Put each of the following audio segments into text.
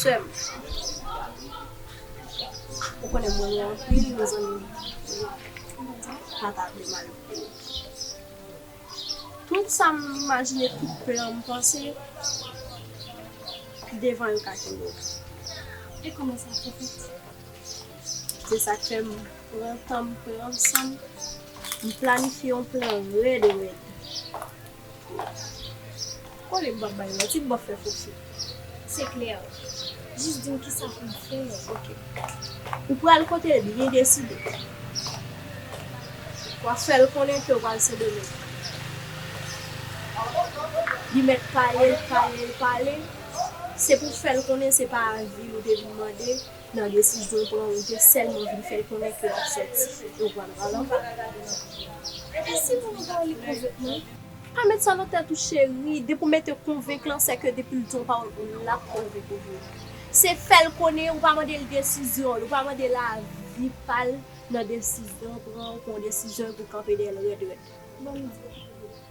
Sèm ou konnen mwen ou anpil mezanmi pata vle mal pou ou tout sa m imajine tout plan m panse devan yo ka kenbe w e kòman sa ap fèt se sak fè m pran tan m pran san m m planifye yon plan rèd rèd. Kole m pap bay lòt ui m pap fè foksi. Se klè. Jis dim kisa pou m fè ok. Ou pral kote l byen deside. Wap fè l konnen ke w pral sendomeng. Li mèt pale l pale l pale. Se pou w fè l konnen se pa azil ou te vin mande. nan desizyon l pran ou te sèlman vin fè l konnen ke w ap sòti e w pral ba l anba. Epi si moun an ba w li konventman? Pa met sa nan tèt ou cheri, depi w mete konvenk lan se ke depi l di yon pawòl pou l ap konvenk ou vre. Se fè l konnen ou pa mande l desizyon l, ou pa mande l avi pa l nan desizyon l pran ou pran yon desizyon epi w kanpe dèyè l rèd rèd. Banm di w cheri.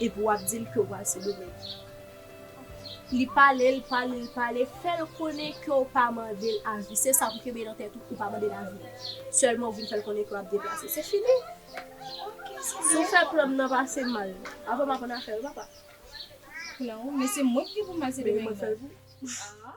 Epi wap dil kew pral sendomeng. Li pale l pale l pale fèl konnen kew pa mandel avi se sa pou kenbe nan tèt ou ou pa mandel avi sèlman ou vin fèl konnen kew ap deplase se fini si ou fè plan m nan pase mal avan m aprann afè yo papa Plan ou men se mwen ki gen pou m al sendomeng nan.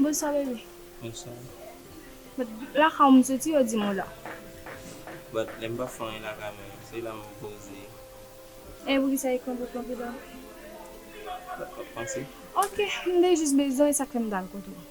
Bonswa bebe. Bonswa. But lakay ou m soti yo di m ou la. But lè m pa fè anyen lakay mwen yo se la mwen poze. E pou kisa ekran pot lan pi ba? But wap panse. Ok m te jis bezwen e sak fè m t al kote w.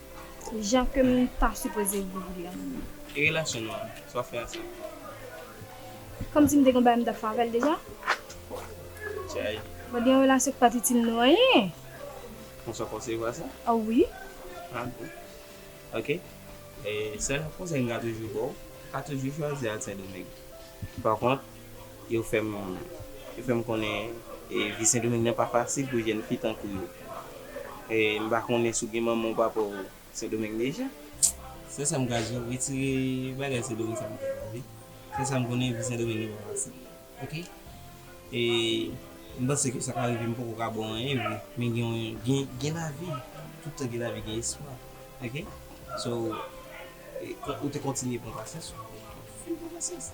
Jan kem ta sipoze viv li an. E relasyon nou an sa wap fè ansanm. Kòm sim te gen yon bagay m tap fè avèl deja. Jay. Mwen gen yon relasyon ki pat itil nou anyen. Konsa w konsevwa sa? Oh wi. Ah bon. Ok. Sèl konsèy m ka toujou baw, pa toujou chwazi al sendomeng. Pa kont. Yo fè m konnen vi Sendomeng nan pa fasil pou jèn fi tankou yo. M pa konnen si w gen manman ou papa w Sendomeng deja? Sèl sa m ka di w, retire bagay Sendomeng sa nan tèt w ok. Sèl sa m konnen vi Sendomeng nan pa fasil ok. E m panse ke sa ka rive m poko ka ba w anyen vre men gen lavi, tout tan gen lavi gen espwa ok. So ou te kontinye pran pasyans, ou kontinye pran pasyans.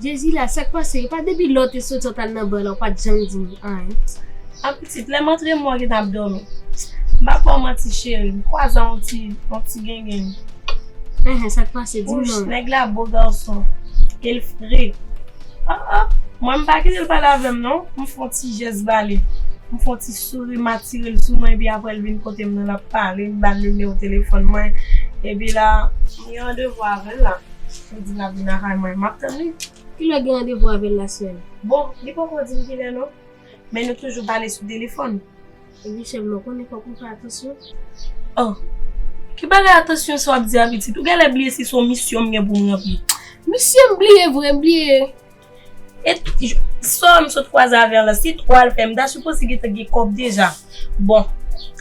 Jezi la sak pase epa depi lè w te soti w tal nan ban la w pat janm di m anyn. An pitit lèm antre mwen gentan ap dòmi m pap baw manti cheri m kwazan yon ti yon ti gengenn Enhen sak pase dim non. Wouch nèg la bo gason el fre ah ah mwen m pa kitel pale avèm non m fon ti jès bali m fon ti souri m atirel sou mwen epi aprè l vin kotem nan lap pale m bal nimewo telefòn mwen epi la m gen randevou avèl la. Li di lap vin lakay mwen map tann li. Kilè gen randevou avèl la sèm. Bon li poko dim kilè non. Men nou toujou pale sou telefòn. Epi sèm non konnen fòk ou fè atansyon. Oh ki bagay atansyon sa wap di a pitit ou genlè bliye si son misyon m gen poum ranpli. Misyon m bliye vre m bliye. Et Saw m sot kwaze avè an lan si twa l fè m ta sipoze gen te gen kòb deja bon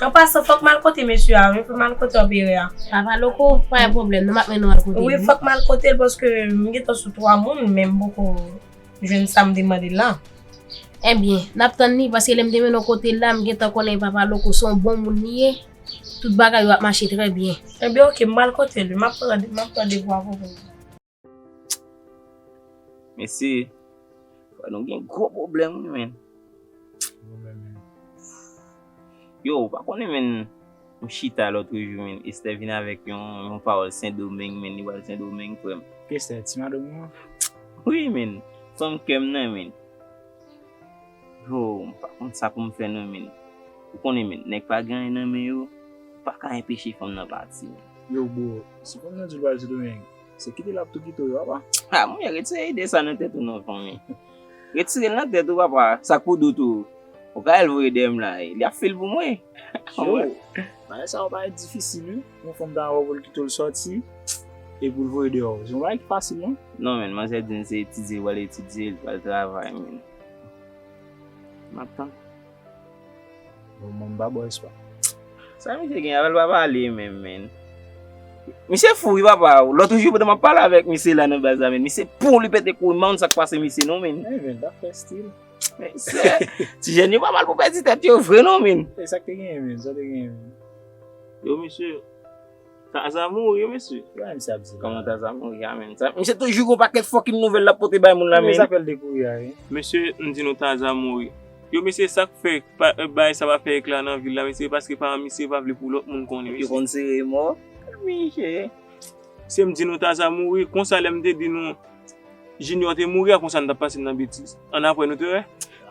an pasan fòk m al kote mesye a wi pou m al kote anperè a Papa Loko pa gen pwoblèm nou m ap mennen w al kote l wi fòk m al kote l paske m gen tan sou twa moun men m poko jwenn sa m te mande l la Ebyen n ap tann li paske lè m te mennen w kote l la m gen tan konnen Papa Loko se yon bon moun li ye tout bagay yo ap mache trè byen Ebyen ok m pral kote l wi m ap pran devwa pou mwen. Mesi. Fwa nou gen gwo problem wi men. Yo, ou pa konnen men, m chita lotre jou men, Esther vin avek yon pawol sendomeng men, li wal sendomeng frem. Ki Esther, ti madanm ou an? Wi men, fanm kem nan men. Yo, m pa konn sa poum fe nan men. Ou konnen men, neg pa gen anyen nan men yo, ou pa ka enpeche fanm nan pati. Yo bro, se fanm nan di li wal sendomeng. Se kite lap tou kite ou yo apa. Ha mwen retire ide sa nan tèt ou non fanmi. Retire l nan tèt ou apa. Sak pou dout ou. Ou ka al voye deyèm la. Li ap fil pou mwen. Yo. Bagay sa yo bagay difisil wi. Yon fanm ta wè pou l kite ou l soti. E pou l voye deyò. Se yon bagay ki fasil non. Non men manzè di m se etidye l pral etidye. Li pral travay men. Map tann. Bon mom ba boy swa. Sa misye gen avel pa pale menm menn. Misye fou wi papa o. Lotre jou pandan map pale avek misye la nan baz la menn. Misye poul li pete koul menw sak pase misye non menn. Menn menn bak fe stil. Menn se. Ti jen yo pa mal pou pedi tet yo vre non menn. Esak te genyen menn. Sa te genyen menn. Yo misye. Taza mouri mesye. Bagay sa ap di la. Kòman Taza mouri a menm? Misye toujou gon pakèt fòkin nouvèl lap pote bay moun la menn. Ki zafèl de kouri a ye? Mesye m di nou Taza mouri. Yo mesye sak fè bagay sa pa fè ekla nan vil la mesye se paske paran misye pa vle pou lòt moun konnen mesye. Yo konn sere mò. Misye. Mesye m di nou Taza mouri konsa lè m te di nou. Junior te mouri a konsa nou tap pase nan betiz. An apre nou te wè.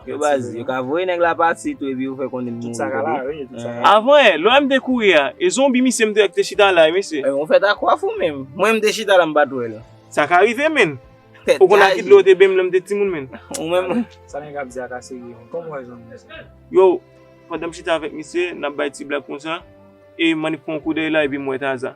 Yo baz, yo ka voye nèg la pati tou epi yo fè konnen li mouri tande. Avan e, lè m te kouri a, e zonbi misye m te wè ki te chita la e mesye. Ou fèt ak waf ou menm. Mwen m te chita la m pat wè l. Sa ka rive menn. Ou konn a ki dlo yo te bem lè m te timoun menn. Ou menm. Sa nèg ap di a ka serye menn. Kòm ou wè zonbi misye sa. Yo, pandan m chita avèk misye, nap bay ti blag konsa, e mannik pran yon koudèy la epi m wè Taza.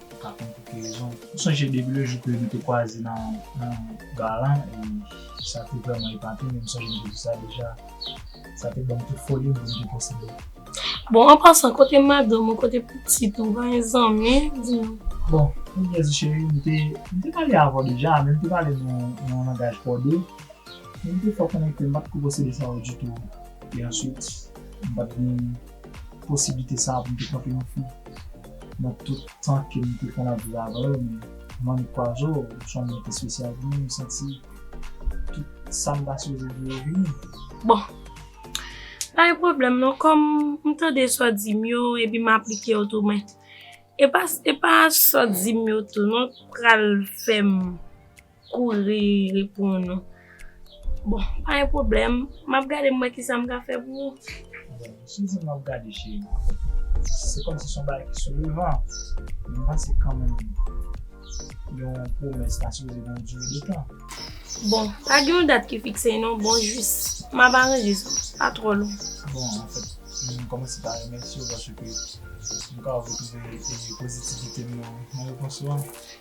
Ou ka konn pou ki rezon. M sonje depi le jou ke nou te kwaze nan bar lan e sa te vrèman epate m e m sonje m te di sa deja sa te ban m tout foli m pou m te posede. Bon, an pasan, kote madanm ou, kote pitit ou, ou pa gen zanmi? Di nou. Bon, pounyèz cheri, m te m te pale avè w deja men m te pale nan yon langaj kòde e m te fè w konnen ke m pa t ko posede sa yo ditou e answit m pa t vin posiblite sa pou m te kanpe yon fi nan tout tan ke m te konn ap viv avè l men Manmi Kwazo ou s on moun ki espesyal pou mwen m santi tout sa m pase ojodi yo vini. Bon, pa gen pwoblèm non kòm m tande sa w di m yo epi m aplike yo tou men e pa sa w di m yo tou non k pral fè m Kouri reponn ou. Bon, pa gen pwoblèm. M ap gade m wè ki sa m ka fè pou ou. Bon, si w di m w ap gade cheri, se kòmsi se yon bagay ki sou devan. Men m panse kanmenm yon pwomès ta sipoze gen yon dire de tan. Bon, pa gen yon dat ki fikse non. Bon, jis m ap aranje sa. Pa twò long. Bon, anfèt, m kòmanse pa remèsye w paske m ka wè w te jwenn pozitivite m nan repons ou an.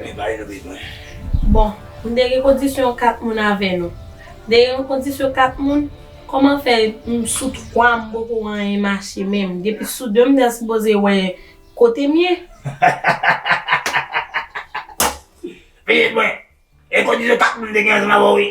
Li pa gen bezwen. Bon, m te gen kondisyon 4 moun avè nou. M te gen yon kondisyon 4 moun, kòman fè m sou 3 m poko wè anyen mache menm? Depi sou 2 m ta sipoze wè kote m ye. Pitit mwen, e kondisyon 4 moun m te gen ansanm avè w wi.